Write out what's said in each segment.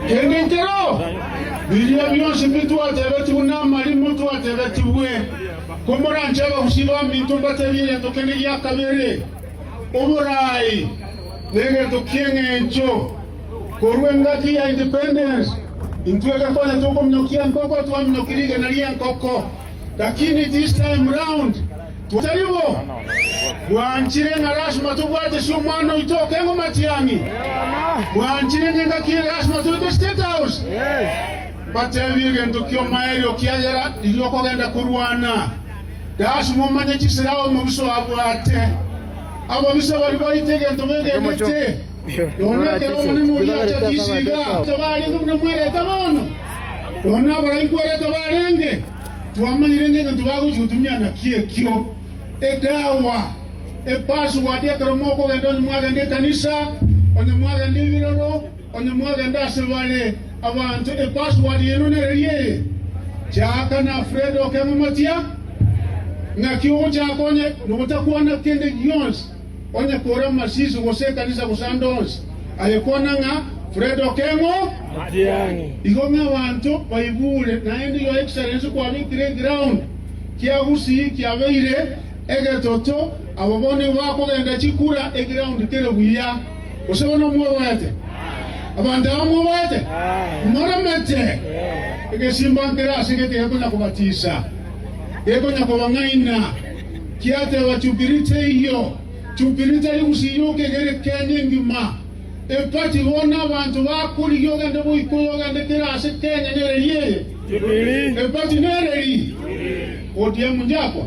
Emetero biria bionsi bitwatebetigwe namarimo twatebetigwe, komoranche abagusii baminto mbateebie egento kende gia kabere, oboraai, negento ki'engencho. Korwa engaki ya independence intwe gekonya tokominyokia enkoko twaminyokia rigena ri'enkoko, lakini this time round, Tari bo! Mwanchire ng'a lasima tobwate ase omwana oito oke ng'a omatiani? Mwanchire ng'a engaki eye lasima toite ase State House? Mbatebie egento ki'omoerio, ekiagera riria okogenda korwana, lasima omanye chisera omobisa oabwate. Ababisa baria baite egento begenete, nonya ekero omonene oria acha chisiiga, tibariete buna mwerete bono, nonya abaraikwa ere tibarenge. twamanyire ng'a egento bagochia gotumia naki ekio edawa, epassword ekero mokogenda onye mwagenda ekanisa, onye mwagenda ebiroro, onye mwagenda ase bare abanto epassword yaino nereria eye. Chaka na Fred okeng'amatia ng'aki ogochaka onye nogotakwana kende gionsi. onye kore omosisi gose ekanisa gose ande onsi, aye kwana ng'a, Fred Okeng'o, Matiang'i. Igo ng'a abanto baibure naende Your Excellency kwabekire eground kia Gusii kiabeire egetoto, abo bono nigo bakogenda chikura eground kere buya. Gose bono mwoboete? Abanto aba mwoboete? Moremete? Egesimba nkere ase gete gekonya kobatisa, gekonya kobang'aina. Kiateba chubiri teiyo, chubiri tari gusiyuka egere Kenya engima. Empati bono abanto bakurigia ogende boika oyo ogende kere ase Kenya nereri eye. Empati nereri? ODM njabwa.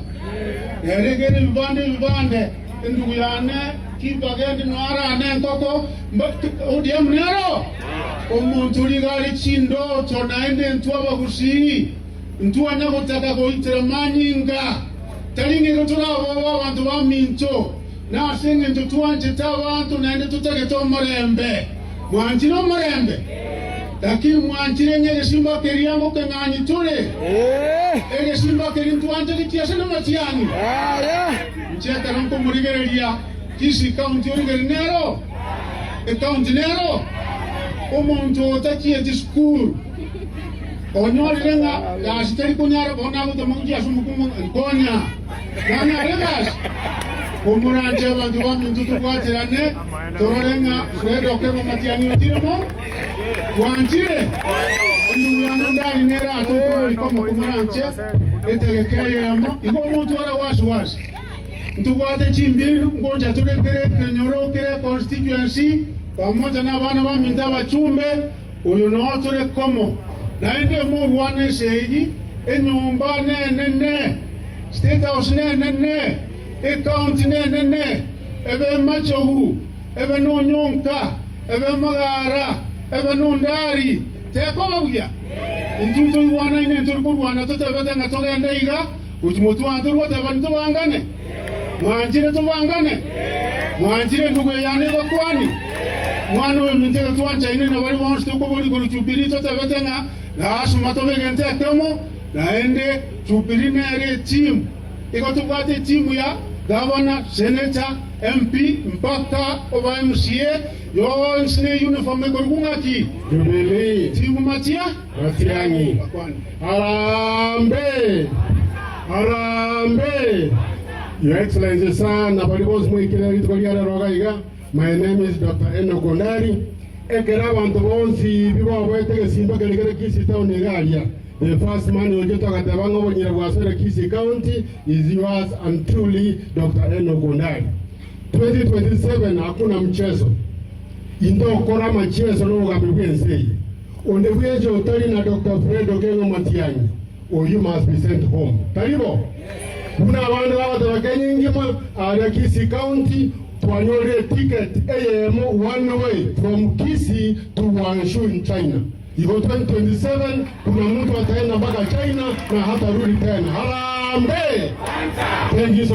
Nere egere ebibande ebibande, endugu yane kimbagende no arane enkoko, mba ODM nero? Omonto rigari chindoto naende intwe abagusii. Ntwana gotaka goitera manyinga, tari ng'erio toraboe abanto baminto, na ase engencho twanchete abanto naende totagete omorembe. Mwanchire omorembe? Gaki mwanchire ng'a egesimba keria ngokeng'anyi tore? Egesimba keria ntwanchanitie ase namatiani? Inche ekero nkomorigereria, tisi ekaunti origeri nero? Ekaunti nero? Omonto otachieti sukuru. Onyorire ng'a gasi tari konyara korwa nagotwa mauche ase omokungu, nkonya. Nang'e are gasi? Komoranche abanto baminto tobwaterane, torore ng'a Fred Okero omatianyi otire mo. Gwanchire? Endururano ndari nere aa tokorari komo komoranche etegeka eyemo, igo omotware wasi wasi. Ntobwate chimbindu, ngocha torekere ekenyoro kere constituency, pamoja na abana baminto abachumbe, Oyo noyo tore komo. Naende mogwane ense eyio, enyomba nenene, State House nenene, ecounty nenene, ebe emachogu, ebe nonyonka, ebe amagara, ebe nondari. Tekoba buya? Intwe ntoigwanaine ntori korwana totebete ng'a togende iga. Gochi motwate goteba nitobangane? Mwanchire tobangane? Mwanchire enugo eyane ebakwani? Omwana oyo minto ere twanchaine na bare bonsi tokoboria korwa Jubilii totebete ng'a lasima tobe egento ekemo, naende Jubilii nere etimu. Igo tobwate etimu ya Gavana, Senator, MP, mpaka oba MCA, yonsi ne uniform ekorokwa ng'aki? Jubilii. Timu matia. Matiang'i, Harambe! Harambe! Your Excellency Sir, na baria bonsi moikire rituko ria rero iga iga, My name is Doctor Enock Ondari. Ekero abanto bonsi bi baboete egesimba keria kere Kisii Town iga aria, the first man who ochete ogateba ng'a obonyere bwa Sore Kisii County is yours and truly Doctor Enock Ondari. 2027 hakuna mchezo. Into okore amachieso na obogamberi bw'ense eye. Onde bwensi otari na Doctor Fred Okengo Matiang'i, oyio must be sent home. Tari bo? Buna abande bagoteba Kenya engima, aria Kisii County twanyorire eticket eyemo one way from Kisii to Guangzhou in China. Igo 2027 buna muntu ataenda mpaka China na hatarudi tena. Harambee! Thank you so.